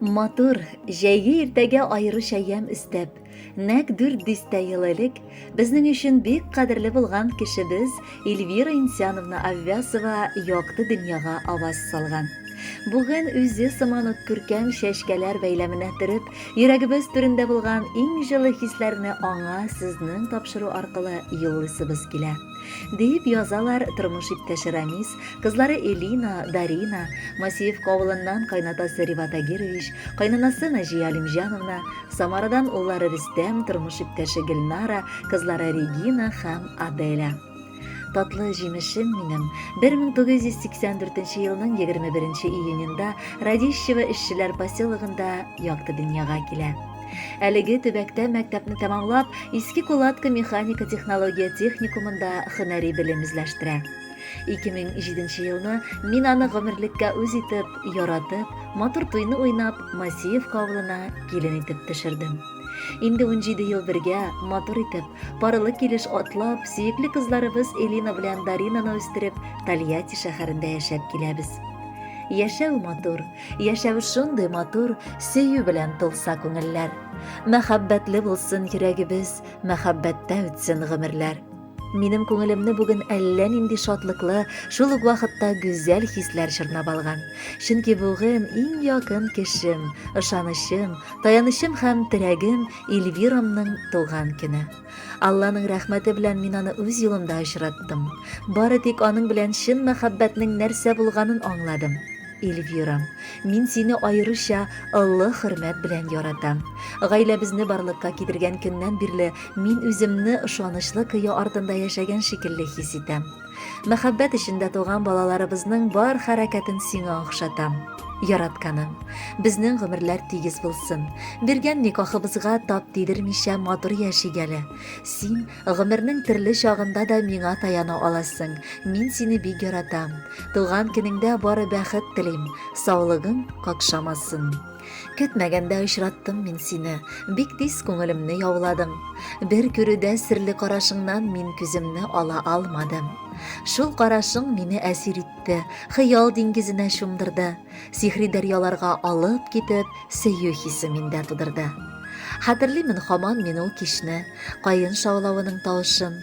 матур җәйге иртәгә аеруча ямь өстәп нәк дүрт дистә ел элек безнең өчен бик кадерле булган кешебез эльвира инсяновна аввясова якты дөньяга аваз салган бүген үзе сыман ук күркәм чәчкәләр бәйләменә төреп йөрәгебез түрендә булган иң җылы хисләрне аңа сезнең тапшыру аркылы юллыйсыбыз килә Диеп язалар тормыш иптәше Рамис, кызлары Элина, Дарина, Масеевка авылыннан кайнатасы Реват Агирович, кайнанасы Наҗия Алимҗановна, Самарадан уллары Рөстәм, тормыш иптәше Гөлнара, кызлары Регина һәм Аделя. Татлы җимешем минем. 1984 елның 21 июненда Радищево эшчеләр поселогында якты дөньяга килә. Әлеге төбәктә мәктәпне тәмамлап, Иске Кулатка механика технология техникумында һөнәри белем эзләштерә. 2007 елны мин аны гомерлеккә үз итеп, яратып, матур туйны уйнап, Масиевка авылына килен итеп төшердем. Инде 17 ел бергә, матур итеп, парлы килеш атлап, сөекле кызларыбыз Элина белән Даринаны үстереп, Тольятти шәһәрендә яшәп киләбез. Яшәү матур, Яшәү шундый матур, сөю белән тулса күңелләр. Мәхәббәтле булсын йөрәгебез, мәхәббәттә үтсен гомерләр. Минем күңелемне бүген әллә нинди шатлыклы, шул ук вакытта гүзәл хисләр чорнап алган. Чөнки бүген иң якын кешем, ышанычым, таянычым һәм терәгем Эльвирамның туган көне. Алланың рәхмәте белән мин аны үз юлымда очраттым. Бары тик аның белән чын мәхәббәтнең нәрсә булганын аңладым. Эльвира, мин сине аеруча олы хөрмәт белән яратам. Гаиләбезне барлыкка китергән көннән бирле мин үземне ышанычлы кыя артында яшәгән шикелле хис итәм. Мәхәббәт эчендә туган балаларыбызның бар хәрәкәтен сиңа охшатам. Яратканым, безнең гомерләр тигез булсын. Биргән никахыбызга тап тидермичә матур яшик әле. Син гомернең төрле чагында да миңа таяна аласың. Мин сине бик яратам. Туган көнеңдә бары бәхет телим. Саулыгың какшамасын. Көтмәгәндә очраттым мин сине, бик тиз күңелемне яуладың. Бер күрүдә серле карашыңнан мин күземне ала алмадым. Шул карашың мине әсир итте, хыял диңгезенә чумдырды. Сихри дәрьяларга алып китеп, сөю хисе миндә тудырды. Хәтерлимен хаман мин ул кичне, каен шаулавының тавышын.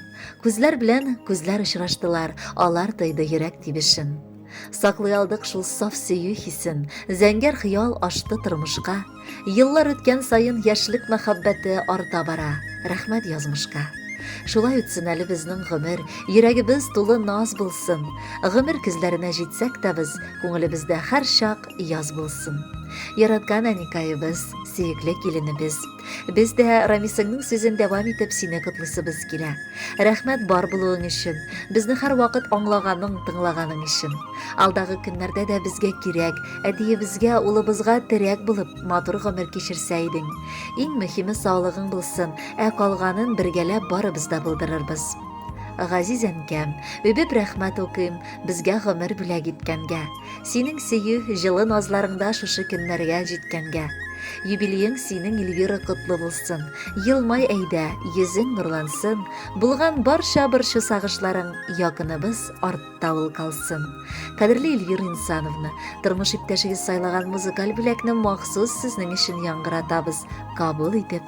Күзләр белән күзләр очраштылар, алар тойды йөрәк тибешен. Саклый алдык шул саф сөю хисен, зәңгәр хыял ашты тормышка. Еллар үткән саен яшьлек мәхәббәте арта бара, рәхмәт язмышка. Шулай үтсен әле безнең гомер, йөрәгебез тулы наз булсын. Гомер көзләренә җитсәк тә без, күңелебездә һәрчак яз булсын. Яраткан әникаебез, сөекле киленебез. Без дә Рамисыңның сүзен дәвам итеп сине котлыйсыбыз килә. Рәхмәт бар булуың өчен, безне һәрвакыт аңлаганың, тыңлаганың өчен. Алдагы көннәрдә дә безгә кирәк, әтиебезгә, улыбызга терәк булып, матур гомер кичерсә идең. Иң мөһиме саулыгың булсын, ә калганын бергәләп барыбыз да булдырырбыз. Газиз әнкәм, үбеп рәхмәт укыйм, безгә гомер бүләк иткәнгә. Синең сөю, җылы назларыңда шушы көннәргә җиткәнгә. Юбилеең синең, Эльвира, котлы булсын. Елмай әйдә, йөзең нурлансын, булган барча борчу сагышларың якыныбыз артта ул калсын. Кадерле Эльвира Инсановна, тормыш иптәшегез сайлаган музыкаль бүләкне махсус сезнең өчен яңгыратабыз. Кабул итеп,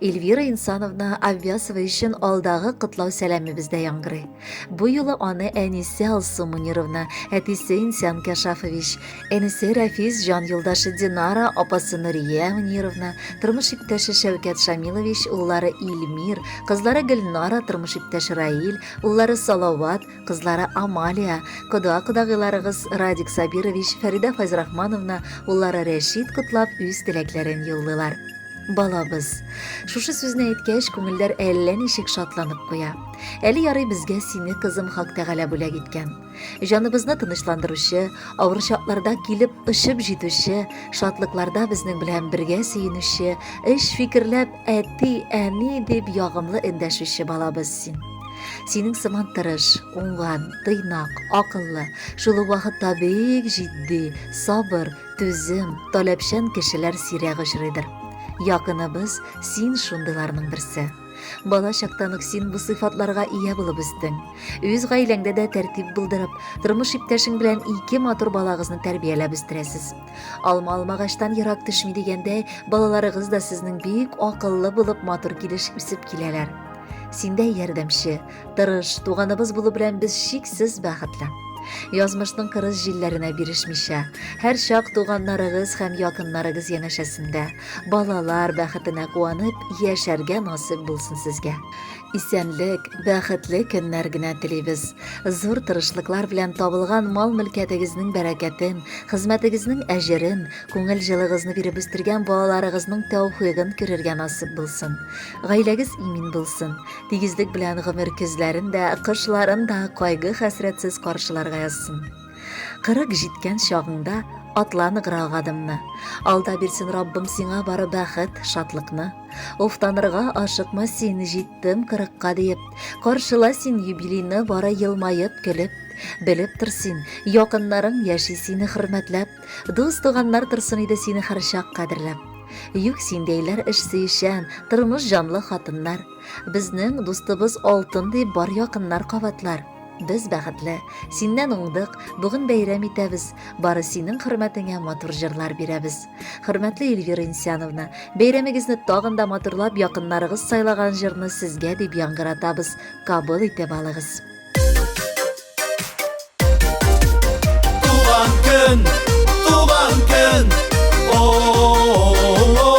Эльвира Инсановна Аввясова өчен алдагы котлау сәламебездә яңгырый. Бу юлы аны әнисе Алсу Мунировна, әтисе Инсян Кашафович, энесе Рәфис җан юлдашы Динара, апасы Нурия Мунировна, тормыш иптәше Шәүкәт Шамилович, уллары Ильмир, кызлары Гөлнара, тормыш иптәше Раил, уллары Салават, кызлары Амалия, кода-кодагыйларыгыз Радик Сабирович, Фәридә Файзрахмановна, уллары Рәшид котлап үз теләкләрен юллыйлар. Балабыз. Шушы сүзне әйткәч, күңелләр әллә ничек шатланып куя. Әле ярый безгә сине кызым Хак Тәгалә бүләк иткән. Җаныбызны тынычландыручы, авыр чакларда килеп очып җитүче, шатлыкларда безнең белән бергә сөенүче, эш фикерләп Әти, әни дип ягымлы эндәшүче балабыз син. Синең сыман тырыш, уңган, тыйнак, акыллы, шул ук вакытта бик җитди, сабыр, түзем, таләпчән кешеләр сирәк очрыйдыр. Якыныбыз, син шундыйларның берсе. Бала чактан ук син бу сыйфатларга ия булып үстең. Үз гаиләңдә дә тәртип булдырып, тормыш иптәшең белән ике матур балагызны тәрбияләп үстерәсез. Алма алмагачтан ерак төшми дигәндәй, балаларыгыз да сезнең бик акыллы булып матур килеш үсеп киләләр. Синдә ярдәмче, тырыш, туганыбыз булу белән без чиксез бәхетле. Язмышның кырыс җилләренә бирешмичә, һәр чак туганнарыгыз һәм якыннарыгыз янәшәсендә, балалар бәхетенә куанып яшәргә насыйп булсын сезгә. Исәнлек, бәхетле көннәр генә телибез. Зур тырышлыклар белән табылган мал-мөлкәтегезнең бәрәкәтен, хезмәтегезнең әҗерен, күңел җылыгызны биреп үстергән балаларыгызның тәүфыйгын күрергә насыйп булсын. Гаиләгез имин булсын. Тигезлек белән гомер көзләрен дә, кышларын да кайгы-хәсрәтсез каршыларга язсын. Кырык җиткән чагыңда атла ныграк адымны. Алда бирсен Раббым сиңа бары бәхет, шатлыкны. Уфтанырга ашыкма син, җиттем кырыкка диеп. Каршыла син юбилейны бары елмаеп, көлеп. Белеп тор син, якыннарың яши сине хөрмәтләп. Дус-туганнар торсын иде сине һәрчак кадерләп. Юк синдәйләр эш сөючән, тормыш җанлы хатыннар. Безнең дустыбыз алтын дип бар якыннар кабатлар. Без бәхетле, синнән уңдык, бүген бәйрәм итәбез, бары синең хөрмәтеңә матур җырлар бирәбез. Хөрмәтле Ильвира Инсяновна, бәйрәмегезне тагын да матурлап якыннарыгыз сайлаган җырны сезгә дип яңгыратабыз, кабыл итеп алыгыз. Туган көн, туган көн, о-о-о-о-о-о.